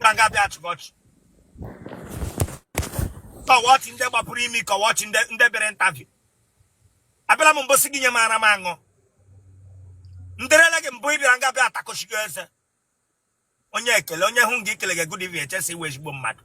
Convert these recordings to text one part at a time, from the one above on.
ka nga bịa chịkọchị kọwọchị ndị gbapụrụ imi kọwọchị ndị bịara ntavi abịala m mbosi gị nye m ara m aṅụ nderele gị mbụ ị bịara nga bịa atakochigo eze onye ekele onye hụ gị ekele gị good evening eche si ị wụ ezigbo mmadụ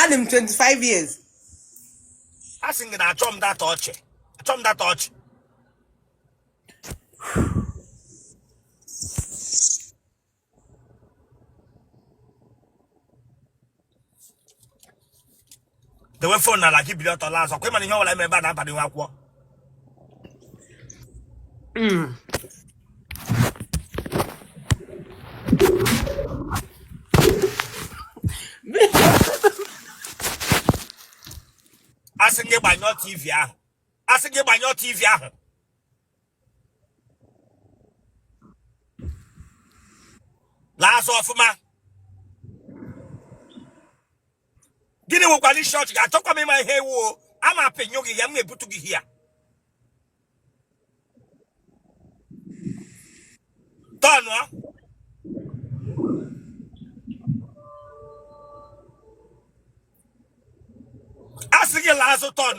adị m 25 years a sị gị na achọ m data ọchị achọ m data ọchị dewe phone n'ala gị bili ọtọ laa azụ kwa ị ma na ihe ọbụla eme ebe a na-abanye n'akwụkwọ a sị gị gbanyụọ tv ahụ a sị gị gbanyụọ tv ahụ laa azụ ọfụma gịnị nwekwara isi ọchị ga-achọkwa m ịma ihe ị wụ a na-apịnyụ gị ya m na-ebutu gị ya turn a sị gị laa azụ turn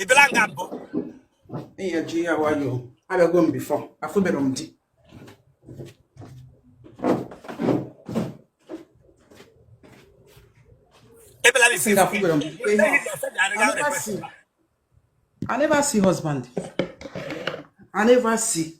ị bịala nga mbụ ihe ji ya nwayọọ abịago m before afụbere m di ị bịala Sị na afụbere m di. Ihe a. I never see husband. I never see.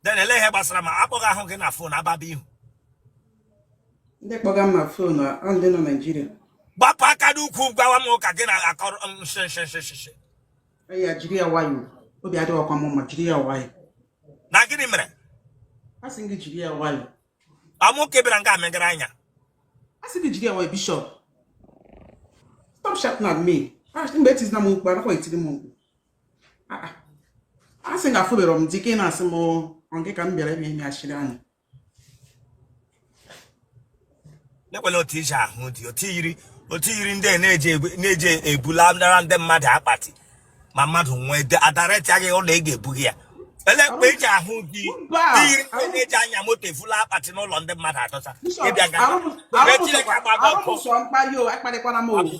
then ele ihe gbasara m a kpọga ahụ gị na phone ababa ihu ndị kpọga m na phone ọ ndị nọ Nigeria gbapụ aka n'ukwu gwawa m ụka gị na akọrọ nshịnshịnshịnshị ya jiri ya nwayọọ obi adịghịkwa m mma jiri ya nwayọọ na gịnị mere a sị gị jiri ya nwayọọ amụ ka ebere nga megara anya a sị gị jiri ya nwayọọ bishop stop shouting at me mgbe etizina m mkpu anaghị etiri m mkpu a sị na afụbere m di na-asị m nke ka m bịara ime ime achịrị anyị nekwela otu iji ahụ dị otu yiri otu yiri ndị na-eji ebula ndara ndị mmadụ akpati ma mmadụ nwee adareti agaghị ụlọ ị ga-ebughị ya ele mgbe eji ahụ gị iyiri ndị na-eji anya moto evula akpati n'ụlọ ndị mmadụ adọsa ị bịa ga mkparị o akparịkwara m okwu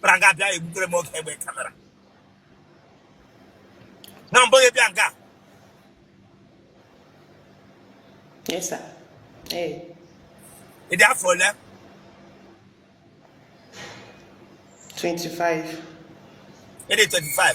bịara nga bịa egbutere m oge ebe kamera na mbụ gị ịbịa nga Yes, sir. Hey. ị dị afọ ole 25. ị dị 25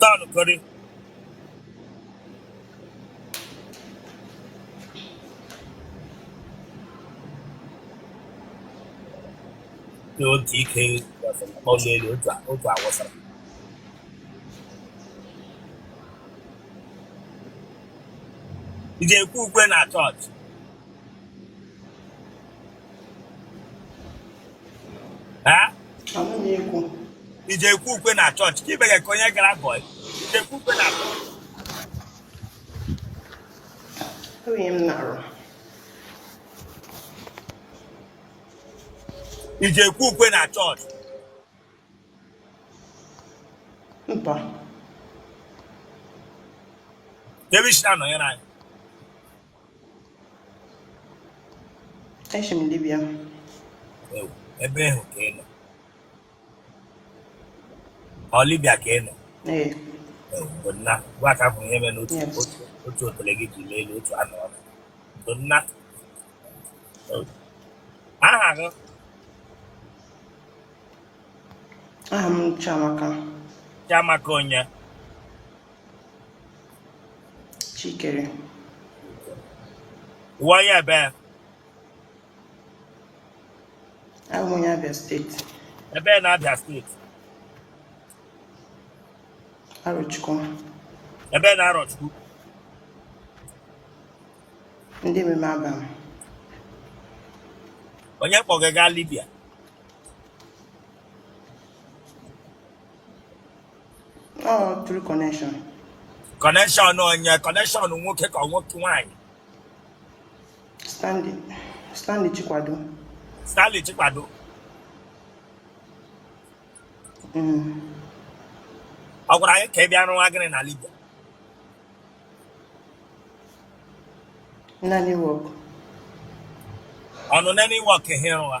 Daalụ Kori. Dị otu ike ọnụ elu otu a- otu awụsara. Ị ji ekwe ukwe na chọọchị. ị ji ekwe ukwe na chọọchị ka ibe gị ka onye gara bọị ị ji ekwe ukwe na chọọchị ị ji ekwe ukwe na chọọchị mba ebe i si na-anọnyere anyị Eshi m Libya. Ewu, ebe ahụ ka ị nọ ọ libya ka ị nọ Ee, Ewu, bụ nna gwa ka bụ ihe mere na otu yes. otu otu otele gị ji lee elu otu anọ ọnụ bụ nna Ewu. aha gị Aha m Chiamaka. chiamaka onye chikere ị wụ onye ebee abụ m onye abịa steeti ebee na abịa steeti arọchukwu ebee na arọchukwu ndị ememe abam onye kpọ gị gaa libya Oh, through connection. Connection onye ọ connection nwoke ka ọ nke nwanyị. Stanley. Stanley Chikwado. Stanley Chikwado. Mm. Ọ gwara gị ka ị bịa rụwa gịnị na Libya. Nanny work. Ọnụ nanny work ihe rụwa.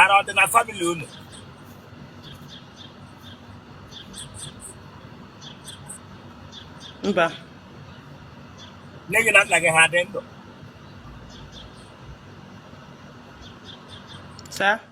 ara ọ dị na famili unu mba nne gị na nna gị ha dị ndụ saa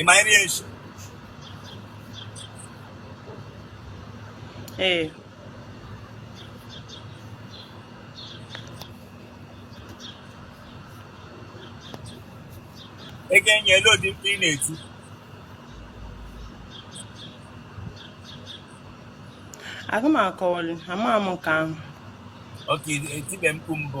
ị ma nri echi ee ego enye lee ụdị mkpu ị na-eti aga m akọwali ama m nke ahụ oke etibe mkpu mbụ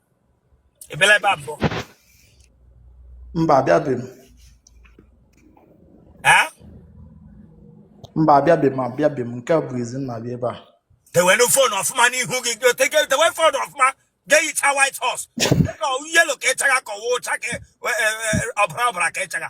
ị bịala ebe a mbụ mba abịabeghị m ee mba abịabeghị m abịabeghị m nke a bụ izizi m na-abịa ebe a dewenu fon ọfụma n'ihu gị gị ote gị- dewe fon ọfụma ga-ehicha white horse dịka yelo ka ị chaga ka ọ wụ ọcha ka e- e- e- ọbara ọbara ka ị chaga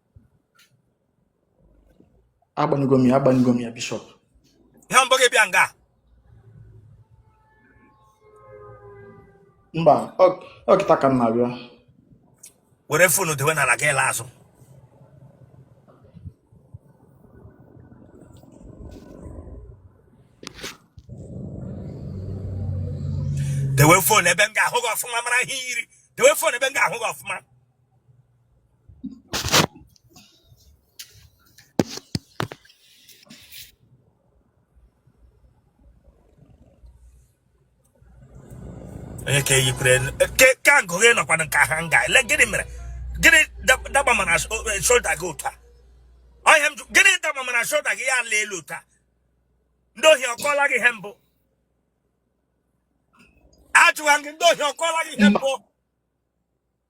agbanyego m ya agbanyego m ya bishọp ihe mbụ gị bịa nga mba ọ kịta ka m na-abịa were fonu dewe n'ala gị alaa azụ dewe fon ebe m ga-ahụ gị ọfụma mara ihe i yiri dewe fon ebe m ga-ahụ gị ọfụma onye ka eyikwere ka agụ gị nọkwa nka ha nga ele gịnị mere gịnị daba mana shoulda gị ụta ọhịa m gịnị daba mana shoulda gị ya ala elu ụta ndị ohi ọkọla gị ihe mbụ ajụwa gị ndị ohi ọkọla gị ihe mbụ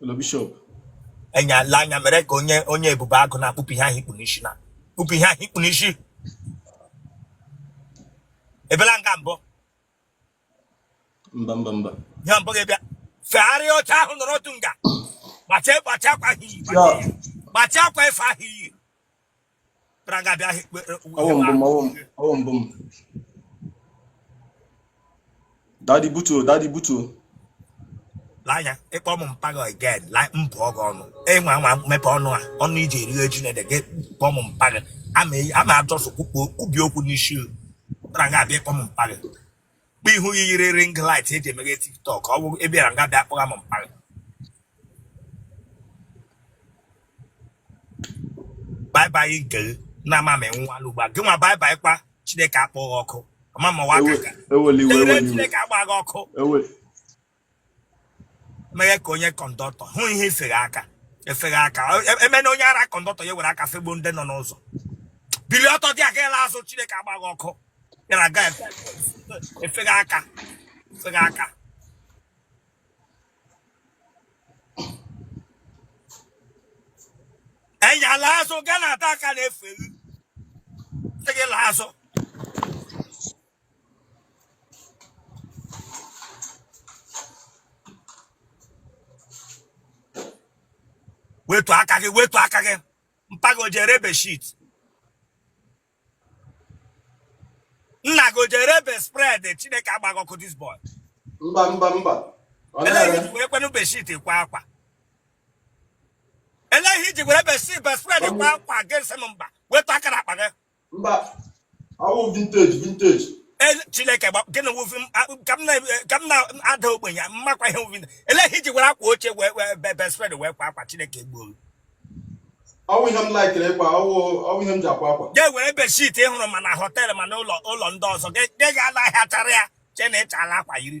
ụlọ bishọp anya la anya mere ka onye onye ebube agụ nna kpupụ ihe ahụ i kpu n'isi nna kpupụ ihe ahụ i kpu n'isi ị bịala nga mbụ mba mba mba ya mbụ gị bịa fegharịa oche ahụ nọrọ otu nga gbachie gbachie akwa ahụ i yi gbachiekwa efe ahụ i yi bịara ga abịa ahịa dadi butuo dadi butuo lee anya ị kpọ m mpa gị again lai mbụ ọgụ ọnụ enwe anwa mepe ọnụ a ọnụ i ji eri ji na gị kpọ m mpa gị ama just kwukpo kwubi okwu n'isi bịara ga abịa ị kpọ m mpa gị bụ ihu gị yiri ring light e ji emeghe tiktok ọ bụ ị bịara nga bịa kpọga m mkparị baibai nke gị na-ama m enwu anụ ugbu a gị nwa baibai kwa chineke akpọ gị ọkụ ọma ma wa aka Ewe- eweliwe Ire eweliwe Chineke agba gị ọkụ ewe mere ka onye kọndọktọ hụ ihe efere aka efere aka emena onye ara kọndọktọ ya were aka fegbuo ndị nọ n'ụzọ bili ọtọ tii aka la azụ chineke agba gị ọkụ yara aga efere aka efere aka enyi ala azụ gaa na ata aka na-eferi gị la azụ wetu aka gị wetu aka gị mpa gị o ji ere bedsheet nna gị o ji ere bedspread chineke agba gị ọkụ this boy mba mba mba elee ihe i ji were kwenu bedsheet kwa akwa elee ihe i ji were bedsheet bedspread kwa akwa gị sị m mba wetu aka na akpa gị mba ọ wụ vintage vintage chineke gịnị wụ vi ka m na-ada ogbenye m makwa ihe wụ vi elee ihe i ji were akwa oche wee bedspread wee kwa akwa chineke gboo ọ wụ ihe m likere ịkwa ọ wụ ihe m ji akwa akwa ga were bedsheet ị hụrụ ma na hotel ma na ụlọ ndị ọzọ gị gaa la ahịa chara ya che na ị chala akwa yiri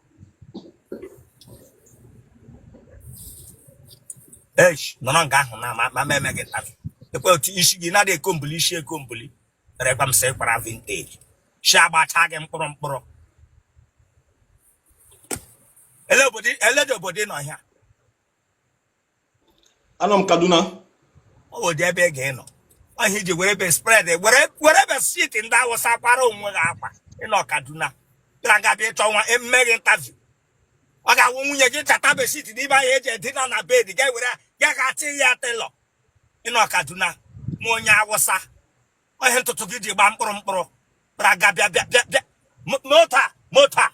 echi nọrọ nga ahụ na ma ma eme gị interview ekwe otu isi gị na-adị ekombuli isi ekombuli rekwa m sị kwara vintage ishi agbacha gị mkpụrụ mkpụrụ elee obodo elee ụdị obodo ị nọ ihe a? anọ m kaduna ọ wụ ụdị ebe ị ga-enọ ọ wụ ihe i ji were bedspread were were bedsheet ndị awụsa kwara onwe gị akwa ị nọ kaduna bịara nga bịa ị chọwa e mee gị interview ọ ga-awụ nwunye gị chata bedsheet n'ime ahịa eji edina na bed ga were ga ga atị ya tailor ị nọ kaduna ma onye awụsa ihe ntutu gị ji gbaa mkpụrụ mkpụrụ bịara nga bịa bịa bịa bịa mota mota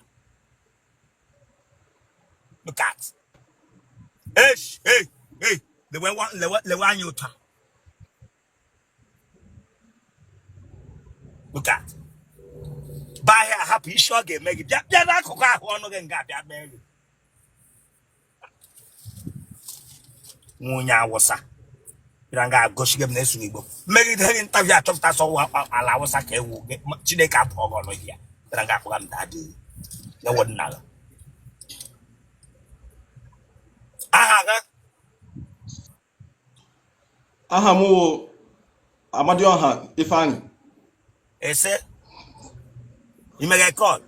look at hey hey hey lewe lewe lewe anya ụta look at baa ahịa ahapụ isi ọ ga-eme gị bịa bịa n'akụkụ ahụ ọnụ gị nga abịa mee gị nwa onye awụsa bịara nga egosiga m na-esughị igbo m megide gị interview achọpụta sị ọ wụ ala awụsa ka ewu gị ma chineke apụọ gị ọnụ ya bịara nga akpọga m daddy ewe nna gị aha gị aha m wụ Amadioha Ifeanyi ese imeghe kọl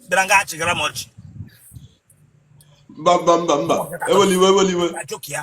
bịara nga achịgara m ọchị mba mba mba mba eweliwe eweliwe ajoki ya